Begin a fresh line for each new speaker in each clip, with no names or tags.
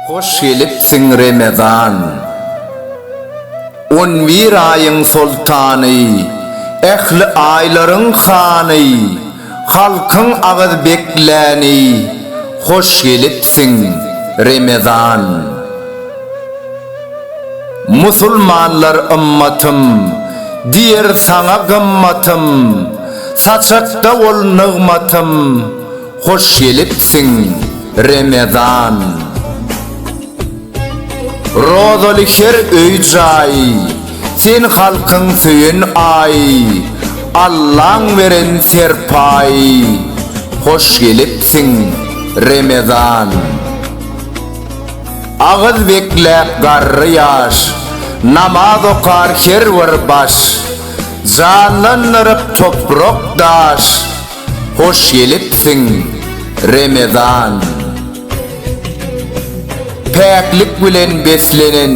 Hoş gelipsiň Remezan! On bir aýyň soltany, Ähli aýlaryň hany. Halkyň agyz bekläni hoş gelipsiň Remezan. Musulmanlar ymmatym diýer saňa gymmatym Saçakda bol nygmatym hoş gelipsiň Remezan. Rozaly her öý jaý, Sen halkyň söýen aý, Allaň beren serpaý, Hoş gelipsiň, Remezan. Agyz bekläp garry ýaş, Namaz okar her bir baş, Janlandyryp toprak-daş, Hoş gelipsiň, Remezan. Päklik bilen beslenen,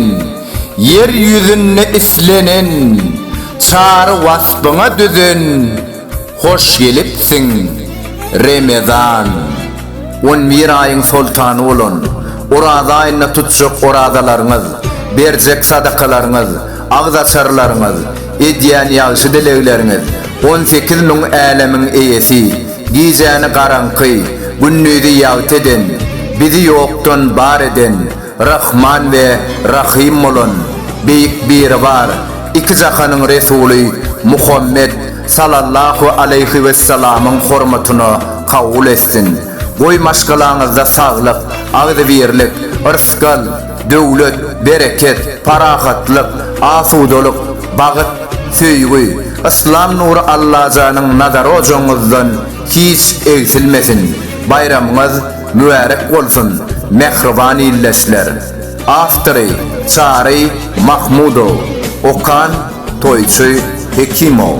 ýer ýüzünde islenen Çary waspyňa düzen Hoş gelipsiň, Remezan! On bir aýyň soltany bolan Oraza aýynda tutjak orazalaryňyz, berjek sadakalaryňyz, agzaçarlaryňyz, edýän ýagşy dilegleriňiz on sekiz müň älemiň eýesi, Gijäni garaňky, gündizi ýagty eden, Bizi ýokdan bar eden, Rahman we Rahym bolan, Beýik Biribar, iki jahanyň Resuly Muhammet sallallahu aleýhi wessalamyň hormatyna kabul etsin. Goý maşgalaňyzda saglyk, agzybirlik, yrsgal, Döwlet, bereket, parahatlyk, asudalyk, bagyt, söýgi, yslam nury Allajanyň nazary ojagyňyzdan hiç egsilmesin! Baýramyňyz mübärek bolsun, mähriban ildeşler! Awtory, Çary Mahmudow. Okan, Toýçy Hekimow.